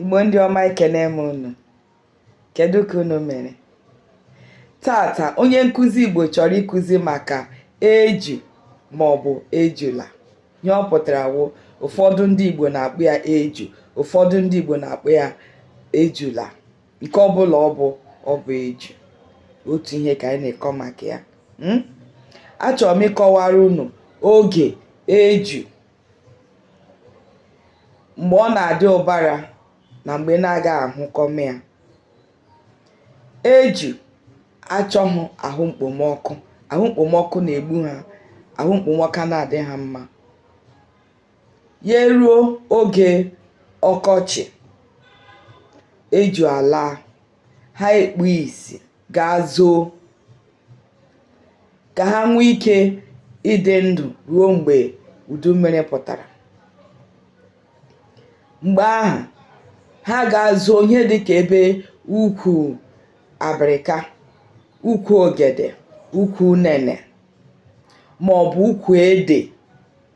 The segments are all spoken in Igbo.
Igbo ndị ọma ekene m unu kedu ka unu mere tata onye nkụzi Igbo chọrọ ịkụzi maka eju maọbụ ejula ihe ọ pụtara wụ ụfọdụ ndị Igbo na-akpụ ya eju ụfọdụ ndị Igbo na-akpụ ya ejula nke ọbụla ọ bụ ọ bụ eju otu ihe ka anyị na-ekọ maka ya hmm? achọrọ m ịkọwara unu oge eju mgbe ọ na-adị ụbara na mgbe na-aga ahụkọme ya eju achọghị ahụ mkpomọkụ ahụ mkpomọkụ na-egbu ha ahụ mkpomọkụ anaghị adị ha mma ya eruo oge ọkọchị eju ala ha ekpu isi gaa zoo ka ha nwee ike ịdị ndụ ruo mgbe udu mmiri pụtara mgbe ahụ ha gaa zoo ihe dị ka ebe ukwu abịrịka ukwu ogede ukwu unene ma ọ bụ ukwu ede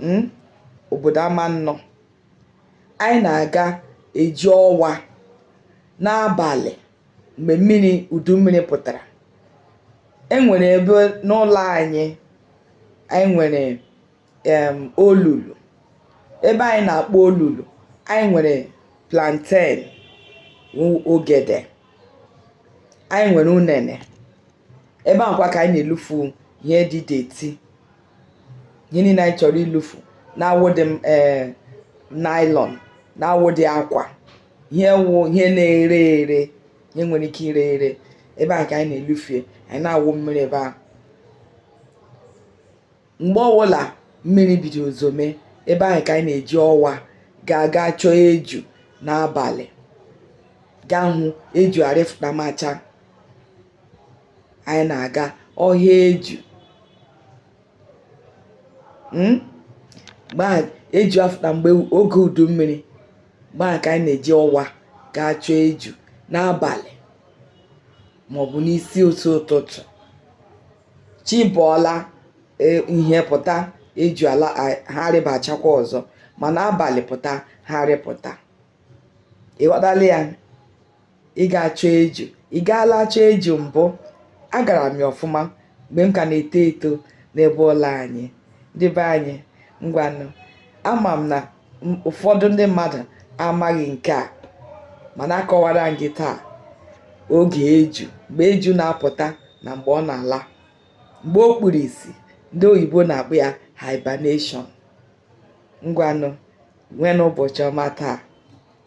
hmm, obodo ama nnọ anyị na-aga eji ọwa n'abalị mgbe mmiri udu mmiri pụtara e nwere ebe n'ụlọ anyị anyị nwere em olulu ebe anyị na-akpọ olulu anyị nwere plantain ogede anyị nwere unene ebe ahụkwa ka anyị na-elufu ihe dị dirty ihe niile anyị chọrọ ilufu na-awụdị m ee nylon na-awụdị akwa ihe wụ ihe na-ere ere ihe nwere ike ire ere ebe ahụ ka anyị na-elufu ihe anyị na-awụ mmiri ebe ahụ mgbe ọbụla mmiri bidoro zome ebe ahụ ka anyị na-eji ọwa ga-aga chọọ eju n'abalị gaa hụ eju arịfụtamacha anyị na-aga ọhịa eju hmm? mgbe ahụ eju afụta mgbe oge udu mmiri mgbe ahụ ka anyị na-eji ọwa gaa chọọ eju n'abalị maọbụ n'isi ụtụ ụtụtụ chi bọọla e, ihe pụta eju ala ha rịbachakwa ọzọ mana abalị pụta ha rịpụta ịghọtala ya ị ga-achọ eju ị gaala chọọ eju mbụ agara m ya ọfụma mgbe m ka na-eto eto n'ebe ụlọ anyị ndị be anyị ngwanụ ama m na ụfọdụ ndị mmadụ amaghị nke a mana akọwara m gị taa oge eju mgbe eju na-apụta na mgbe ọ na-ala mgbe o kpuru isi ndị oyibo na-akpọ ya hibernation ngwanụ nweenụ ụbọchị ọma taa